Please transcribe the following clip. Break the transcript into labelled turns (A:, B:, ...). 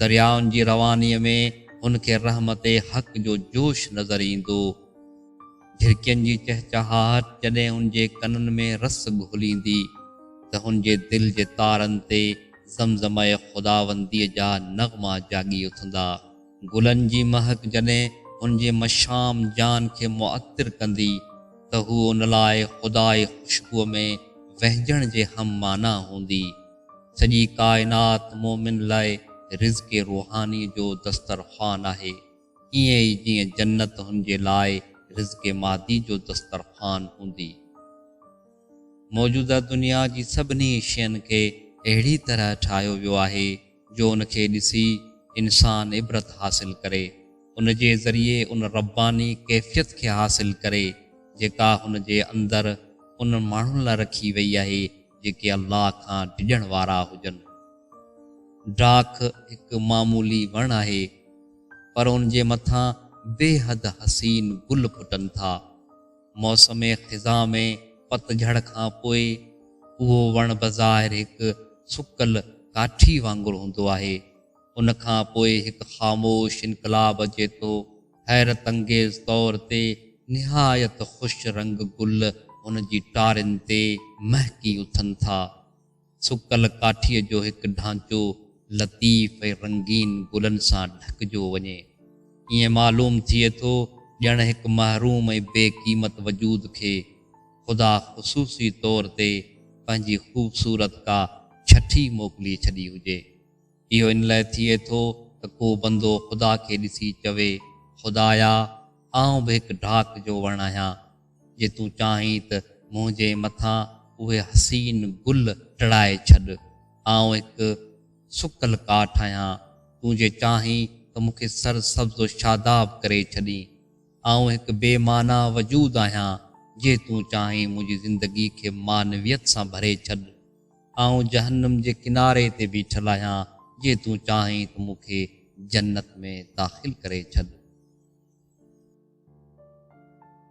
A: دريائن جي روانيء ۾ هن کي رحمت حق جو جوش نظر ايندو. جهرڪين جي چهچهاهٽ جڏهن هن جي ڪنن ۾ رس گهليندي ته هن جي دل جي تارن تي زمزمه خداونديء جا نغما جاڳي اٿندا. گلن جي مهڪ جڏهن هن جي مشام جان کي معطر ڪندي ته هوء ان لاء خدائي خوشبوء ۾ وهنجڻ جي هم معنيٰ هوندي. سڄي ڪائنات مؤمن لاء رزق روحاني جو دسترخوان آهي، ائين ئي جيئن جنت هن جي لاء رزق مادي جو دسترخوان هوندي. موجوده دنيا جي سڀني شين کي اهڙي طرح ٺاهيو ويو آهي جو ان کي ڏسي انسان عبرت حاصل ڪري، ان جي ذريعي ان رباني ڪيفيت کي حاصل ڪري جيڪا هن جي اندر انهن ماڻهن لاء رکي وئي آهي جيڪي الله کان ڊڄڻ وارا هجن. ڊاک هڪ معمولي وڻ آهي، پر ان جي مٿان بيحد حسين گل ڦٽن ٿا. موسم خزاء ۾ پتجهڙ کان پوء اهو وڻ بظاهر هڪ سڪل ڪاٺي وانگر هوندو آهي، ان کان پوء هڪ خاموش انقلاب اچي ٿو. حيرت انگيز طور تي نهايت خوش رنگ گل هن جي ٽارين تي مهڪي اٿن ٿا. سڪل ڪاٺيء جو هڪ ڍانچو لطيف ۽ رنگين گلن سان ڍڪجو وڃي. ائين معلوم ٿئي ٿو ڄڻ هڪ محروم ۽ بي قيمت وجود کي خدا خصوصي طور تي پنهنجي خوبصورت ڪا ڇٺي موڪلي ڇڏي هجي. اهو ان لاء ٿئي ٿو ته ڪو بندو خدا کي ڏسي چوي، خدايا! آئون به هڪ ڊاڪ جو وڻ آهيان، جي تون چاهين ته منهنجي مٿان اهي حسين گل ٽڙائي ڇڏ. آئون هڪ سڪل ڪاٺ آهيان، تون جي چاهين ته مون کي سر سبز و شاداب ڪري ڇڏين. آئون هڪ بي معنيٰ وجود آهيان، جي تون چاهين منهنجي زندگي کي معنويت سان ڀري ڇڏ. آئون جهنم جي ڪناري تي بيٺل آهيان، جي تون چاهين ته مون کي جنت ۾ داخل ڪري ڇڏ.